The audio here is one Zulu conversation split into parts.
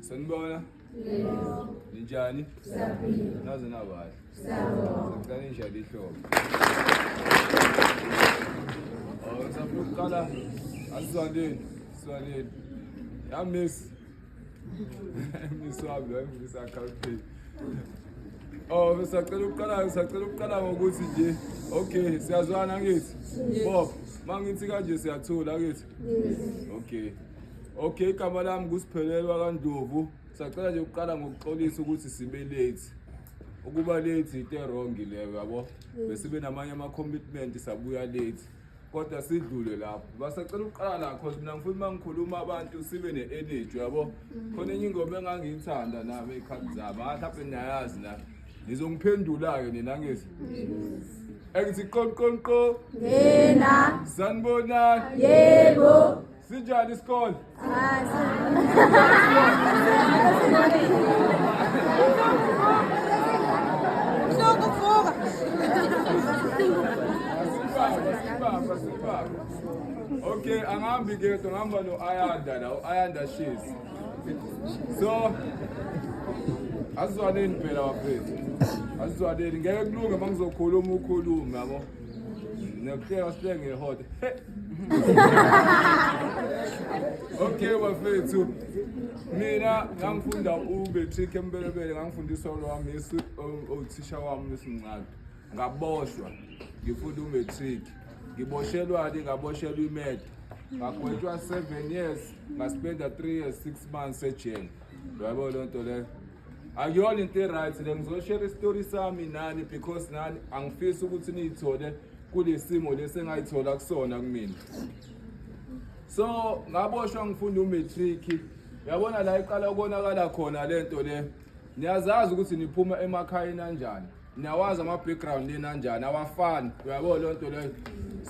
Sanibona? Yebo. Ninjani? Siyaphila. Naze nabahle. Siyabonga. Sicela injalo ihlobo. Oh, safuna ukuqala asizwandeni, sizwandeni. Ya miss. Miss wami lo ngifisa account pay. Oh, besacela ukuqala, sacela ukuqala ngokuthi nje okay, siyazwana ngithi. Bob, mangithi kanje siyathula ngithi. Okay. Okay, igama lami nguSiphelelwa kaNdlovu. Sacela nje ukuqala ngokuxolisa ukuthi sibe late. Ukuba late yinto wrong leyo yabo. Besibe namanye ama commitment sabuya late. Kodwa sidlule lapho. Basacela ukuqala la cause mina ngifuna uma ngikhuluma abantu sibe ne energy yabo. Khona enye ingoma engangiyithanda nami ekhanda zami. Mhlawumbe niyayazi la. nizongiphendula-ke nina ngezi engithi qonqonqo Yena. sanibonani Yebo. sinjani isikole Sokuvuka. okay angihambi ke ngihamba no-ayanda la u-ayanda shezi so asizwaneni phela bafethu asizwaneni ngeke kulunge uma ngizokhuluma ukhulume yabo nokuhleka sihleke ngehota okay bafethu mina ngangifunda ubetrick empelebele ngangifundiswa lwami othisha wami lesimncane ngaboshwa ngifunda umatric ngiboshelwani ngaboshelwa imed ngagwetshwa seven years ngaspenda three years six months ejele yabo loo nto leyo akuyona into e-right le ngizoshare isitori sami nani because nani angifisi ukuthi niyithole kule simo lesi engayithola kusona kumina so ngaboshwa ngifunda umatric yabona la iqala ukonakala khona le nto le niyazazi ukuthi niphuma emakhayeni anjani niyawazi ama-background yenu anjani awafani uyabo loo nto leyo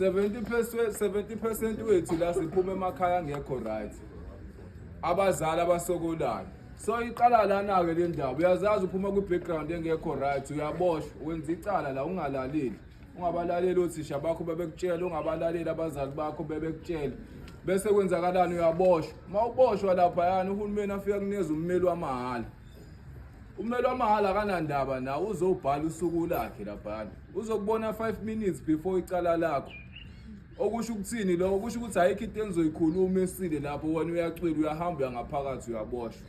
70 percent wethu la siphuma emakhaya angekho right abazali abasokolayo so iqala lana-ke le ndaba uyazazi uphuma kwi-background engekho right uyaboshwa wenza icala la ungalaleli ungabalaleli othisha bakho bebekutshela ungabalaleli abazali bakho bebekutshela bese kwenzakalani uyaboshwa uma uboshwa laphayana uhulumeni afika kuneza ummeli wamahhala ummeli wamahhala akanandaba nawe uzobhala usuku lakhe laphayana uzokubona five minutes before icala lakho okusho ukuthini lokho kusho ukuthi ayikho into engizoyikhuluma esile lapho wena uyacwila uyahamba uyangaphakathi uyaboshwa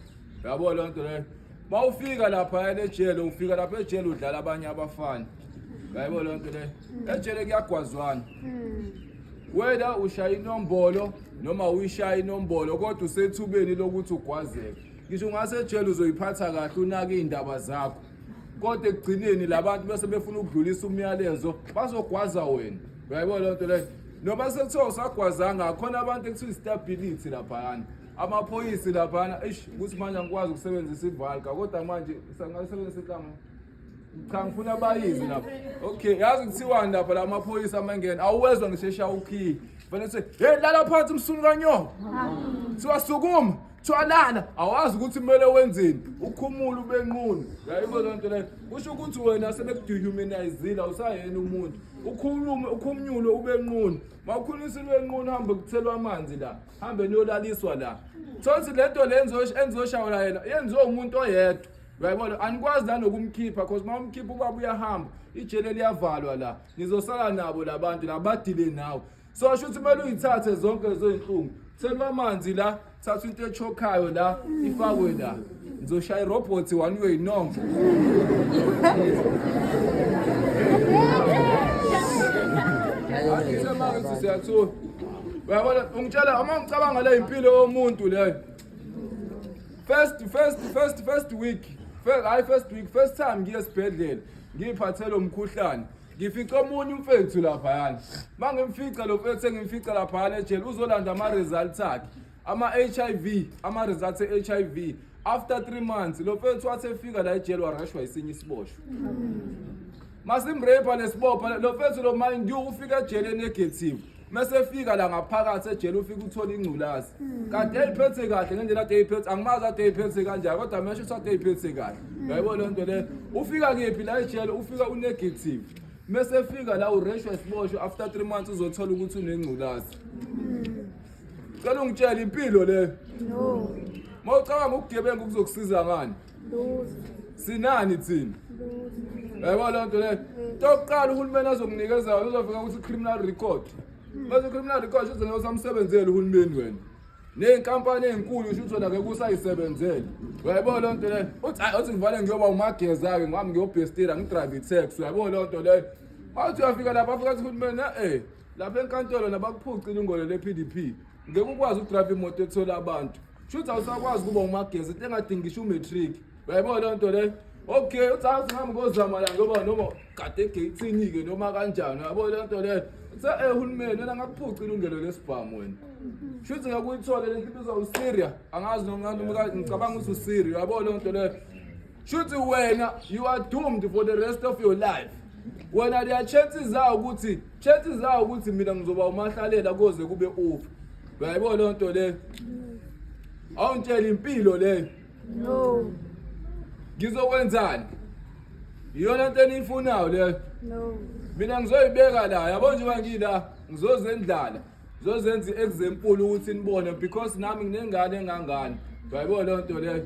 yabo loo nto leyo uma ufika lapha enejele ufika lapha ejele udlala abanye abafana yayibona loo nto leyo ejele kuyagwazwana hmm. wena ushaya inombolo noma uyishaya inombolo kodwa usethubeni lokuthi ugwazeke ngisho ungasejele uzoyiphatha kahle unake iy'ndaba zakho kodwa ekugcineni la bantu bese befuna ukudlulisa umyalezo bazogwaza wena uyayibona loo nto leyo noma sekuthiwa usagwazanga khona abantu ekuthiwa i-stability laphayana amaphoyisi laphana eish ukuthi manje angikwazi ukusebenzisa ivalka kodwa manje sangasebenzisa ihlama cha ngifuna bayizi lapha okay yazi kuthiwani lapha la maphoyisa amangena awuwezwa ngishesha ukhiye fanele sithi hey lala phansi msunu kanyoko kuthiwa sukuma kuthiwa lala awazi ukuthi kumele wenzeni ukhumula ubenqunu yayibo loo nto leyo kusho ukuthi wena sebekudehumanizile awusayena umuntu ukhulume ukhumnyule ubenqunu makhulisa ubenqunu hambe kuthelwa amanzi la hambe niyolaliswa la thonsi le nto le engizoshawula yena yenziwe umuntu oyedwa uyayibona anikwazi nanokumkhipha because uma umkhipha ubaba uyahamba ijele liyavalwa la nizosala nabo la bantu la badile nawe so asho ukuthi kumele uyithathe zonke lezo iy'nhlungu sekubamanzi la thatha into echokhayo la ifakwe la ngizoshaya irobhothi one way no siyathuka uyabona ungitshela uma ngicabanga le impilo yomuntu leyo first first first first week hayi first week first time ngiye esibhedlela ngiyiphathele umkhuhlane ngifice omunye umfethu laphayana uma ngimfica lo mfethu engimfica laphayana ejele uzolanda ama-results akhe ama-hiv ama-results e-hiv after three months lo mfethu wathi efika la ejele warashwa isinye isiboshwa masimrepha lesibopha lo mfethu lo mind you ufika ejele negative mese efika la ngaphakathi ejele ufika uthola ingculazi kade eyiphethe kahle ngendlela ade eyiphethe angimazi ade eyiphethe kanjani kodwa mesho ukuthi ade eyiphethe kahle yayibona loo nto leyo ufika kephi la ejele ufika unegative mese efika la ureshwa isiboshwa after three months uzothola ukuthi unengculazi Cela ungitshele impilo leyo. No. Mawucabanga ukugebenga ukuzokusiza ngani? Lutho. Sinani thina? Lutho. Yebo loo nto leyo. Tokuqala uhulumeni azokunikeza yona uzofika ukuthi criminal record. Bese criminal record uzoze usamsebenzele uhulumeni wena. Nezinkampani ezinkulu usho ukuthi ke kusayisebenzele. Uyayibona loo nto leyo. Uthi hayi uthi ngivale ngiyoba umageza ke ngami ngiyobhestira ngidrive i-tax. Uyayibona loo nto leyo. Mawuthi uyafika lapha afika ukuthi uhulumeni eh lapha enkantolo nabakuphucile ingolo le-pdp ngeke ukwazi ukudrayiva imoto ethola abantu shuthi awusakwazi ukuba umagezi into engadingi ngisho umatric uyayibona loo nto leyo okay uthi awusihambi ngozama la ngoba noma kade egeyithini-ke noma kanjani uyabo le nto leyo uthe eh hulumeni wena ngakuphuca ilungelo lesibhamu wena shuthi ngeke uyithole le nto ibizwa usiria angazi noma ngicabanga ukuthi usiria uyabo le nto leyo shuthi wena you are doomed for the rest of your life wena leya chance zawo ukuthi chance zawo ukuthi mina ngizoba umahlalela koze kube ufa uyayibona loo nto leyo awungitshela impilo leyo no ngizokwenzani iyona nto eniyifunayo leyo no mina ngizoyibeka la yabo njengoba ngila ngizozendlala zozenza i-example ukuthi nibone because nami nginengane engangani uyayibona loo nto leyo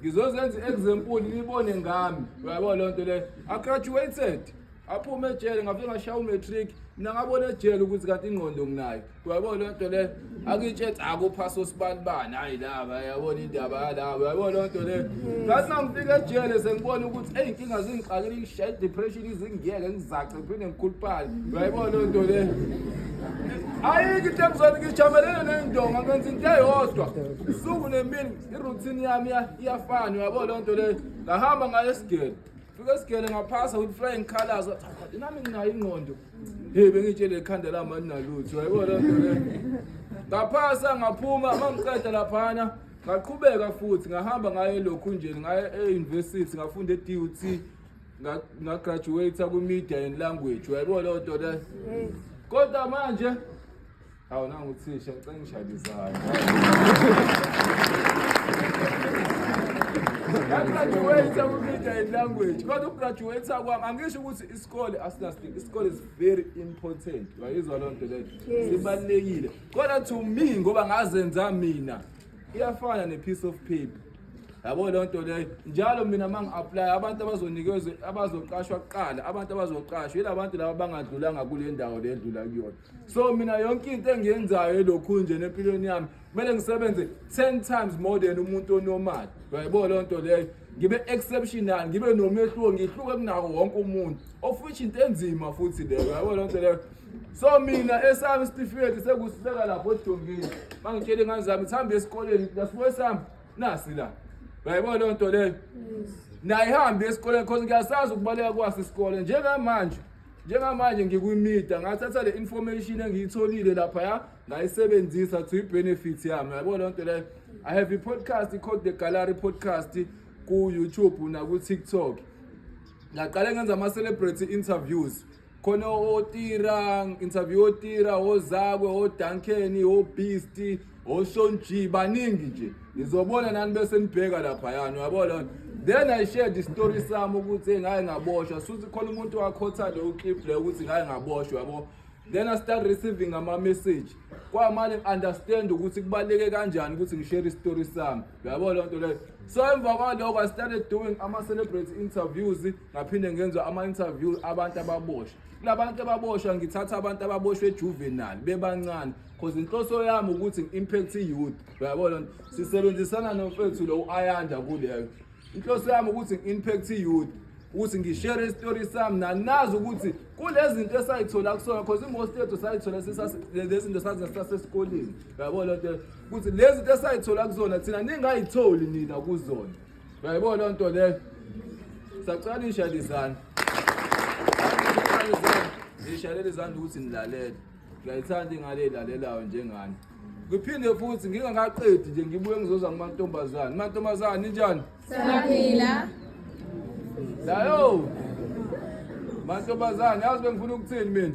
ngizozenza i-example nibone ngami uyayibona loo nto leyo agraduated aphume ejele ngafike ngashaya umatric mina ngabona ejele ukuthi kanti ingqondo nginayo uyayibona loo nto leyo akitshethe akuphasa osibalibani hayi laba yabona indaba yalaba uyayibona loo nto leyo ngathi mangifika ejele sengibona ukuthi eyi inkinga zingixakile ngishaye i-depression izingiyeke ngizace Uphinde ngikhuluphala. Uyayibona leyo nto le. Ayikho into engizona ngijamelene nendonga ngenza into eyodwa. Usuku nemini iroutine yami iya- iyafana uyabo leyo nto le. Ngahamba ngaye esigele. Fika esigele ngaphasa with flying colors. Wathi, "Hayi, Nami nginayo ingqondo. Hey bengitshele ikhanda lami alinalutho. Uyayibona leyo nto le. Ngaphasa ngaphuma mangiqeda laphana. Ngaqhubeka futhi ngahamba ngaye lokhu nje ngaye e-university ngafunda e-DUT ngagraduate kwi-media and language uyayibona leyo nto le kodwa manje hawu nangu uthisha ngicela ngishayele izandla ngagraduate kwi-media and language kodwa ukugraduate kwami angisho ukuthi isikole asinasting isikole is very important uyayizwa leyo nto leyo sibalulekile kodwa to me ngoba ngazenza mina iyafana ne-piece of paper yabo leyo nto leyo njalo mina uma ngi-aplaya abantu abazonikezwa abazoqashwa kuqala abantu abazoqashwa yila bantu laba bangadlulanga kule ndawo le edlula kuyona so mina yonke into engiyenzayo elokhu nje nempilweni yami kumele ngisebenze ten times more than umuntu onomali yaybo leyo nto leyo ngibe exceptional ngibe nomehluko ngihluke kunako wonke umuntu of which into enzima futhi leyo yabo lonto leyo so mina esami isitifiketi sekusibeka lapho edongeni mangitshele ingane zami sihambe esikoleni nasiwe sami nasi la bayibona leyo nto leyo nayihambe esikoleni cause ngiyasazi ukubaleka kwasi isikole njengamanje njengamanje ngikwimida ngathatha le information engiyitholile lapha ya ngayisebenzisa to i-benefit yami yabo loo nto leyo i have i-podcast called the gallery podcast ku-youtube naku-tiktok ngaqale ngenza ama-celebrity interviews khona otira interview otira ozakwe odankeni obeast oshonji baningi nje nizobona nani bese nibheka lapha yani uyabo lona then i shared the story sami ukuthi ngaye ngaboshwa suthi khona umuntu wakhotha leyo clip leyo ukuthi ngaye ngaboshwa yabo then i start receiving ama message kwamale understand ukuthi kubaleke kanjani ukuthi ngishare i story sami uyabo loo nto leyo so emva kwaloko i started doing ama-celebrate interviews ngaphinde ngenza ama-interview abantu ababosha kulabantu ababoshwa ngithatha abantu ababoshwe ejuvenile bebancane cause inhloso yami ukuthi ngi-impact i-youth uyabo loo nto sisebenzisana nomfethu lo u-ayanda kuleyo inhloso yami ukuthi ngi-impact i-youth ukuthi ngishere isitori sami nanazi ukuthi kulezi zinto esayithola kusona cause imost yethu sayithola lezi zinto sazisasesikoleni uyabo loo nto ukuthi lezi zinto esayithola kuzona thina ningayitholi nina kuzona uyayibona loo nto leyo sacela nishayele izandla nishayelele izandla ukuthi nilalele ngiyayithanda ingane elalelayo njengani ngiphinde futhi ngingakaqedi nje ngibuye ngizoza kumantombazane mantombazane ninjani siyaphila layo mantombazane yazi bengifuna ukuthini mina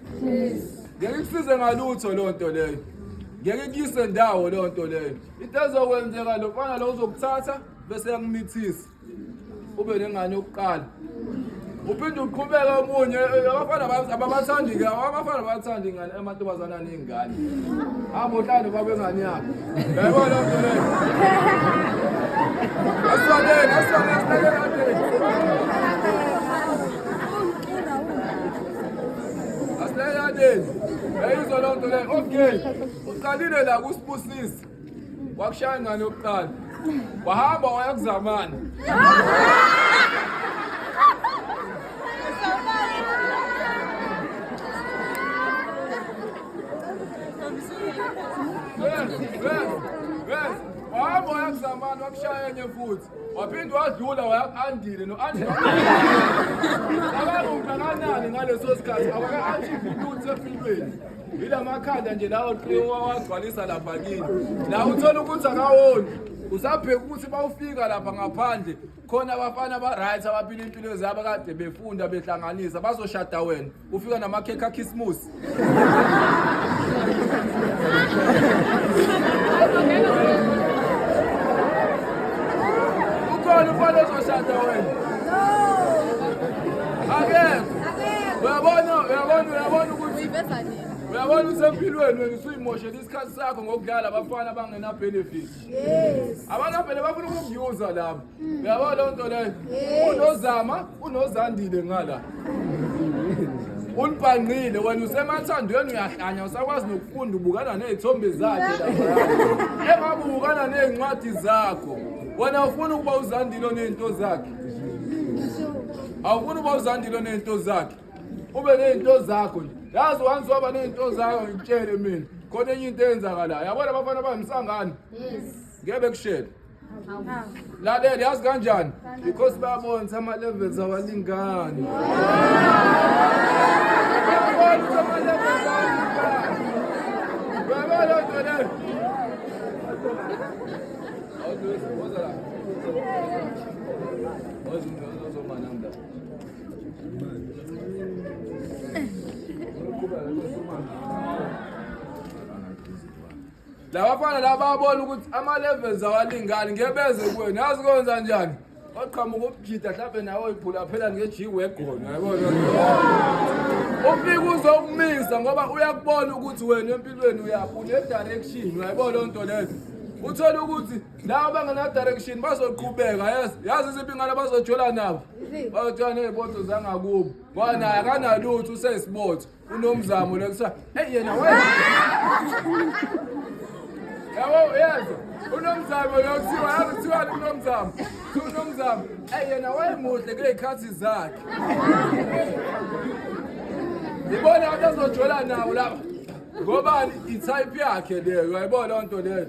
ngeke kusize ngalutho loo nto leyo ngeke kuyise ndawo loo nto leyo into ezokwenzeka lo mfana lo uzokuthatha bese yakumithisa ube nengane yokuqala uphinde uqhubeke omunye abafana ababathandi ke abafana abathandi ingane amantombazana aney'ngane hamba uhlale babe ngane yakho yayibona loo nto leyo asibabeni asibabeni sinakekade Asileyaneni. Eyizwa loo nto leyo. Okay. Uqalile la kusibusisi. Wakushaya ngani yokuqala? Wahamba waya kuzamana. Wahamba waya kuzamana wakushaya enye futhi. waphinde wadlula waya-andile no-andile akangakanani ngaleso sikhathi awaka-achieve lutho empilweni yila makhanda nje lawo wagcwalisa lapha kini la uthola ukuthi akawoni usabheka ukuthi bawufika lapha ngaphandle khona abafana ba-right abaphila impilo zabo kade befunda behlanganisa bazoshada wena ufika namakhekhe akhisimusi ukhona ufana ozoshada wena akekho uyabona uyabona uyabona ukuthi uyabona ukuthi empilweni wena usuyimoshela isikhathi sakho ngokudlala abafana abangenabhenefit abanabhene bafuna ukukuyuza labo Uyabona leyo nto leyo? Unozama, unozandile ngala. Ulibhangqile wena usemathandweni uyahlanya usakwazi nokufunda ubukana nezithombe zakhe lapha. Engabe ubukana nezincwadi zakho. Wena ufuna ukuba uzandile onezinto zakhe. Awufuna ukuba uzandile onezinto zakhe. Ube nezinto zakho nje. Yazi once waba nezinto zakho ngikutshele mina. Khona enye into eyenzakalayo. Yabona abafana bami sangani? Yes. Ngeke bekushele. lalela yazi kanjani because babonisa ama-levels awalingani babonisa ama-levels awalingani uyabona loo nto leyo labafana lababona ukuthi ama-levels awalingani ngebeze kuwena yazi kwenza njani waqhamuka ubujida mhlawumbe nawe uyibhula phela nge-g wegona yabona ufike uzokumisa ngoba uyakubona ukuthi wena empilweni uyaphi une-direction uyayibona loo nto leyo uthole ukuthi laba bangena-direction bazoqhubeka yes yazi iziphi ingane bazojola nabo bazojola ney'botho zangakubo ngoba naye akanalutho usesibotho unomzamo le kuthiwa eyi yena we yabo uyazi unomzamo lo kuthiwa yazi kuthiwani unomzamo Kuthiwa unomzamo eyi yena wayemuhle kuley'khathi zakhe ibona abantu azojola nawo laba ngobani i-type yakhe leyo uyayibona loo nto leyo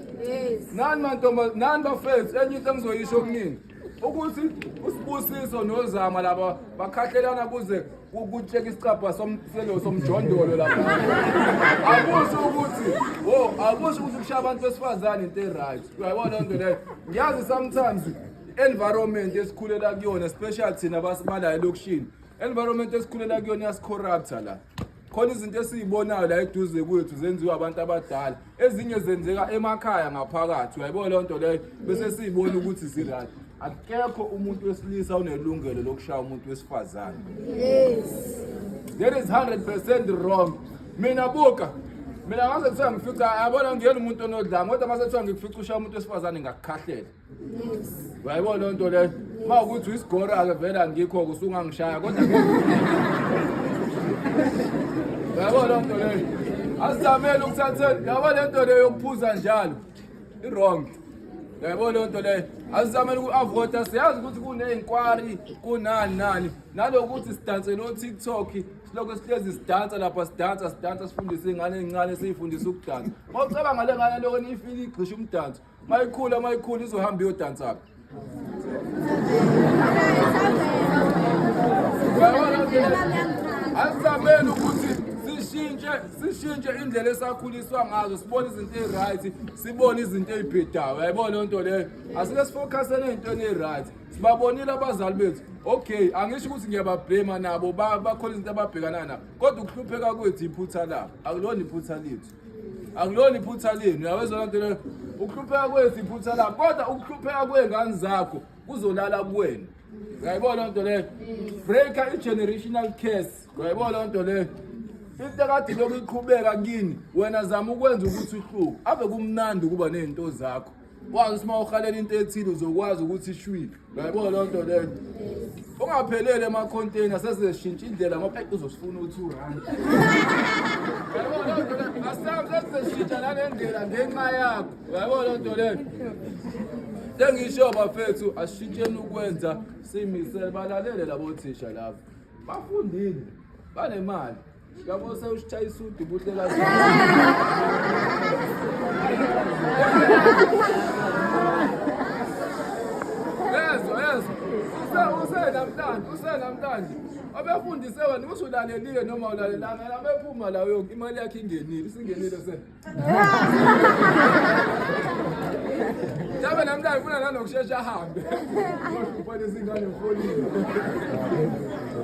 nani mantomba nani bafethu enye into engizoyisho kuningi ukuthi usibusiso nozama laba bakhahlelana kuze kutsheka isicabha somselo somjondolo lapha akusho ukuthi wo akusho ukuthi kushaya abantu besifazane into e-right uyayibona loo nto leyo ngiyazi sometimes environment esikhulela kuyona special thina basibalayo elokishini environment esikhulela kuyona yasicorrupta la khona izinto esiyibonayo la eduze kwethu zenziwa abantu abadala ezinye zenzeka emakhaya ngaphakathi uyayibona leyo nto leyo bese siyibona ukuthi zirayt akekho umuntu wesilisa unelungelo lokushaya umuntu wesifazane that is 100 percent wrong mina buka mina ngase kuthiwa ngifica yabona ngiyena umuntu onodlanga kodwa mase kuthiwa ngikufica ushaya umuntu wesifazane ngakukhahlela Yayibona loo nto leyo. Uma ukuthi uyisigora-ke vele angikho-ke usungangishaya kodwa yabo loo nto leyo asizamele ukuthatheni yabo le nto leyo yokuphuza njalo i-wrong yabo loo nto leyo asizamele uku-avota siyazi ukuthi kuney'nkwari kunani nani nalokuthi sidanse no-tiktok silokhu sihlezi sidansa lapha sidansa sidansa sifundise iy'ngane ey'ncane siyifundise ukudansa uma ucabanga le ngane loko niyifile igxisha umdanso Mayikhula mayikhula izohamba iyodansa phi? Asizameni ukuthi sishintshe sishintshe indlela esakhuliswa ngazo sibone izinto eziryt sibone izinto ezibhedayo yayibona loo nto leyo asike sifokhasele ey'ntweni eziryt sibabonile abazali bethu okay angisho ukuthi ngiyababhlema nabo bakhona izinto ababhekana nabo kodwa ukuhlupheka kwethu iphutha labo akulona iphutha lethu akulona iphutha lenu uyawezwa lonto leyo ukuhlupheka kwethu iphutha lami kodwa ukuhlupheka kwey'ngane zakho kuzolala kuwena uyayibona loo nto leyo breaker i-generational case uyayibona loo nto leyo into ekade lokhu iqhubeka kini wena zama ukwenza ukuthi uhluku ave kumnandi ukuba ney'nto zakho wazi ukuthi uma uhalela into ethile uzokwazi ukuthi ishwile uyayibona loo nto leyo ungaphelele emakhonteyina sezeshintsha indlela ngoba eyi uzosifuna u-two rand sesizeshintsha nale ndlela ngenxa yakho uyayibona loo nto leyo sengisho bafethu asishintsheni ukwenza simisele balalele labo thisha labo bafundile banemali Yabo sewushaya isudu buhle kazi. Yezo yezo. Use use namhlanje, use namhlanje. Abefundise wena ukuthi ulalelile noma ulalelanga, abephuma la uyoku imali yakhe ingenile, isingenile se. Mhlawumbe namhlanje ufuna nanokushesha ahambe. Ubhale izingane ufolile.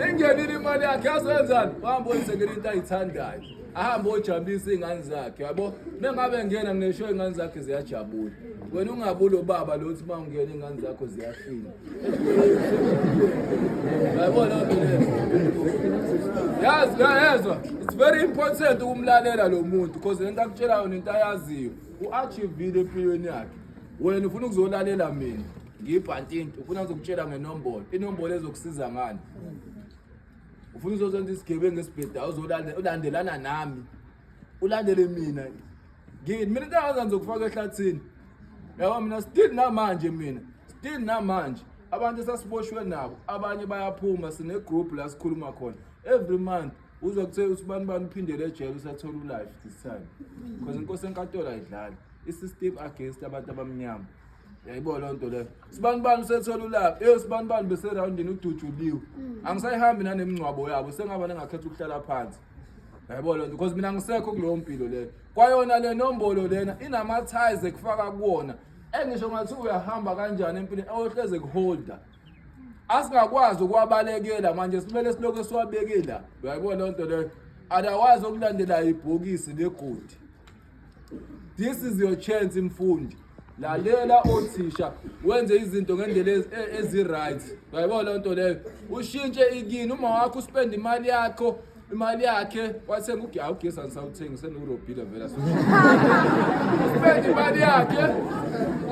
Ingenile imali yakhe yazenzani? Wahamba oyisengela into ayithandayo. Ahambe ojabulisa izingane zakhe, yabo? Mengabe ngena ngisho izingane zakhe ziyajabula. Wena ungabula ubaba lothi uma ungena izingane zakho ziyafina. yazi yayezwa it's very important ukumlalela lo muntu because lento akutshelayo nento ayaziyo u-achievile empilweni yakhe wena ufuna ukuzolalela mina ngiyibhantinti ufuna ngizokutshela ngenombolo inombolo ezokusiza ngani ufuna uzozonza isigebengu esibhedayo uzolandelana nami ulandele mina ngini mina into engaza ngizokufaka ehlathini yabo mina still namanje mina still namanje abantu esasiboshwe nabo abanye bayaphuma sinegroup la sikhuluma khona every month uzwa kuthe uthi bani bani uphindele ejele usathola ulife this time because inkosi enkatolo ayidlali i-system against abantu abamnyama yayibo loo nto leyo sibani bani usethola ulapha eyo sibani bani beserawundini udujuliwe angisayihambi nanemingcwabo yabo sengaba nengakhetha ukuhlala phansi yabo lento because mina ngisekho kuleyo mpilo leyo kwayona le nombolo lena inama-ties ekufaka kuwona engisho ngathi uyahamba kanjani empilweni oyohleze kuholder asingakwazi ukuwabalekela manje simele silokhu esiwabekela uyayibona loo nto leyo otherwise okulandela ibhokisi legodi This is your chance mfundi. Lalela othisha wenze izinto ngendlela ezi- e- ezi-right. Uyayibona leyo nto leyo. Ushintshe ikini uma wakho uspend imali yakho imali yakhe wathenga ugi awugesi angisawuthengi senurobhile vele uspend imali yakhe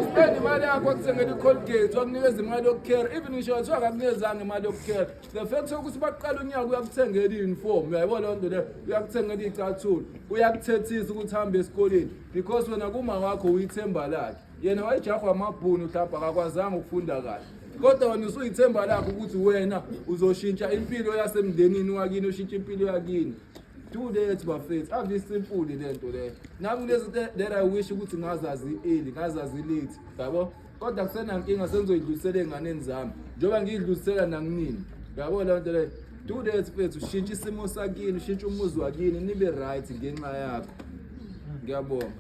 uspend imali yakho wakuthengela i-colgate wakunikeza imali yokukhera even ngisho kuthiwa akakunikeza imali yokukhera the fact sokuthi baqala unyaka uyakuthengela i-uniform uyayibona loo nto leyo uyakuthengela iy'cathulo uyakuthethisa ukuthi hambe esikoleni because wena kuma wakho uyithemba lakhe yena wayejahwa amabhuni uhlabha akakwazanga ukufunda kahle kodwa wena usuyithemba lakho ukuthi wena uzoshintsha impilo yasemndenini wakini ushintshe impilo yakini do that bafethu ave simfuni le nto leyo nami kulezi that i wish ukuthi ngazazi early ngazazi late yabo kodwa kusenankinga sengizoyidlulisela ey'nganeni zami njengoba ngiyidlulisela nakunini yabo leyo nto leyo do that mfethu shintsha isimo sakini shintsha umuzi wakini nibe right ngenxa yakho ngiyabonga